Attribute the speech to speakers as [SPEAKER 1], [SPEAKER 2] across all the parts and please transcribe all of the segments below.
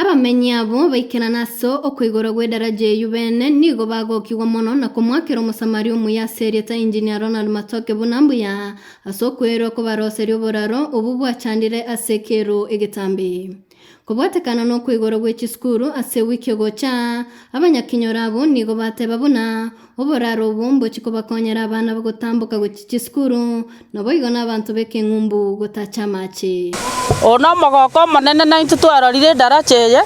[SPEAKER 1] Abamenyi abwo baikerane ase okoiborwa gw'edaraja eyio beene nigo bagokigwa mono na komoakera Omosamaria omuya ase erieta Engineer Ronald Matoke buna mbuya ase okweirwa kobaroseria oboraro obwo bwachandire ase ekeru egetambe. Kobwatekana nokweigora gwe chisukuru ase ewiki egocha, abanyakinyora abwo nigo bateba buna oboraro obwo mbochie kobakonyera abana gotamboka gochia chisukuru, naboigo nabanto b'ekeng'umbu gotacha amache. Oyo nomogoko
[SPEAKER 2] omonene naintwe twarorire edaracha eye,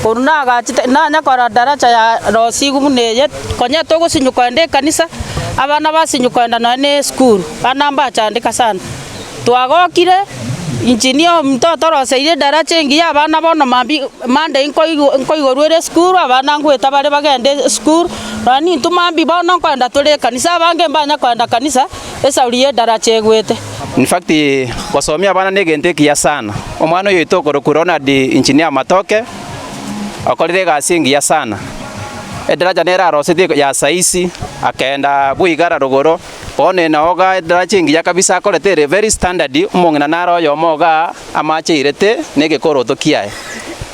[SPEAKER 2] korwa nagachete nanya korora daracha ya rosigu buna eye, konya togosinyi kogenda ekanisa, abana basinyi kogenda nonya na esukuru, bana mbachandeka sana. Twagokire, injini omonto otoroseire edaracha engiya, abana bono mambia Monday nkoigorwa ere esukuru, abana ngwete bare bagende esukuru, nonya nintwe mambia bono nkoenda tore ekanisa, abange mbanya koenda kanisa, esauri y'edaracha egwete. In fact,
[SPEAKER 3] gosomia abana negento ekiya sana. Omwana oyoito okorokwa Ronald Engineer Matoke, okorire egasi engiya sana. Edaracha nerarosetie ya saa isi, akenda bwa igara rogoro, Bono eye nao iga edarachi engiya kabisa akorete ere very standard, omong'ina nare oyomo iga amache airete negekoroto kiaye.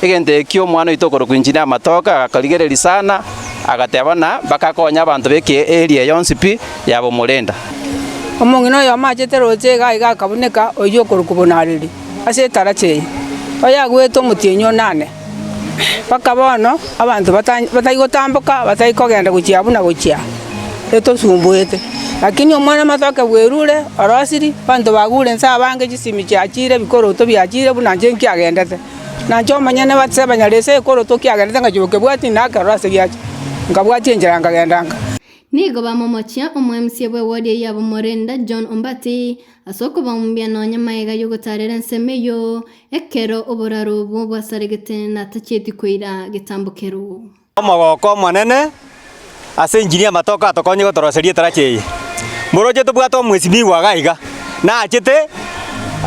[SPEAKER 3] Egento ekio omwana oito okorokwa Engineer Matoke agakorigereria sana, agateba buna bakakonya abanto beke area yonsi pi yaba omorenda. Omong'ina
[SPEAKER 4] oyo amachete roche iga aiga akabuneka oyio okorokwa Bonareri ase edarachi eye, oyagwete omotienyi o nane. mpaka bono abanto bata- batai gotamboka batai kogenda gochia abwo na gochia etosumbuete. Lakini Omwana-o-mwanto akebweru ore orosiri, abanto bagure inse abange chisimi chiachire, ebikoroto biachire buna inche nkiagendete. Na inche omonyene base banyare ase ekoroto kiagendete ngachia gokebwatia nakerora ase giacha, nkabwatia enchera nkagenda nka. Nigo
[SPEAKER 1] bamomochia omoemisia bw'ewodi eyio abamorenda, John Ombatĩ, ase okobaumia nonya magega y'ogotaarera ensemo eyio. Ekero oboraro obwo bwasaregete natachieti koira getambo keroo. Omogooko
[SPEAKER 5] omonene ase enginia amatoke atokonye gotoroseria etarachi eye. Moroche tobwate omwesimigwa iga iga nachete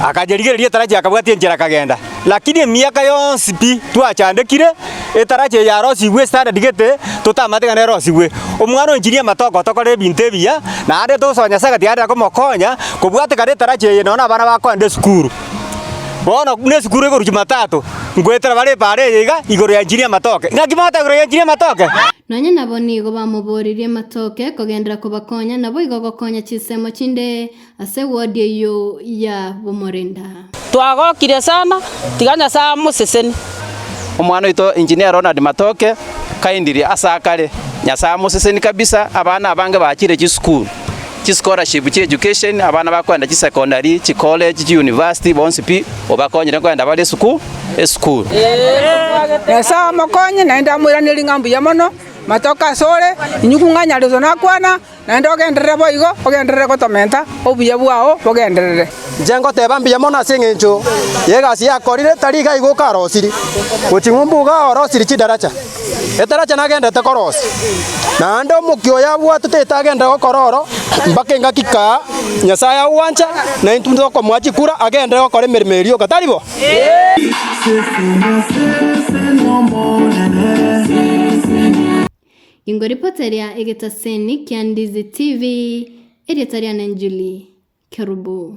[SPEAKER 5] akanyerigereria etarachi akabwatia enchera akagenda. Lakini emiaka yonsi pi twachandekire etarachi eye yarosigwe standard gete totamanyete ekero nerosigwe. Omwana o enginia amatoke otokorera ebinto ebiya naende togosoa Nyasaye gati aende akomokonya kobwate kare etarachi eye nonye na abana bakoende esukuru. Bono buna esukuru egorusia Jumatatu, ngoetera bare epaara eye iga igoro ya enchini y'amatoke. Naki mogoteba igoro ya enchini y'amatoke? Nonya nabo nigo
[SPEAKER 1] bamoborerie amatoke kogenderera kobakonya, naboigo gokonya chinsemo chinde ase wodi eyio ya bomorenda. Twagokire
[SPEAKER 2] sana, tiga Nyasae amoseseni. Omwana
[SPEAKER 3] oito Engineer Ronald Matoke, kindly, ase akare. Nyasae amoseseni kabisa, abana abange bachire chisukuru. chischolarship chia education, abana bakoenda chisecondary, chikoleji, chiuniversity, bonsi pi obakonyire koenda bare esuku esukuru.
[SPEAKER 4] Nyasae amokonye, naende amoiranerie ng'a mbuya mono, matoke asore, inyuku ng'anyareso nakwana, naende ogenderere boigo, ogenderere gotomenta, obuya bwao bogenderere. Inche ngoteba mbuya
[SPEAKER 5] mono ase engencho y'egasi yakorire, tari iga igo okarosirie, gochia ng'umbu iga orosirie chidaracha. Etaracha nagendete korosia, naende omokia oyo abwatete etaga ende gokora oro, mpaka engaki kaa Nyasae agwancha, na intwe tokomoa chikura agende gokora emeremo ye rioka. Tari bo?
[SPEAKER 1] Ingo ripota ria egetaseni kia Ndizi TV, erieta riane Julie Kerubo.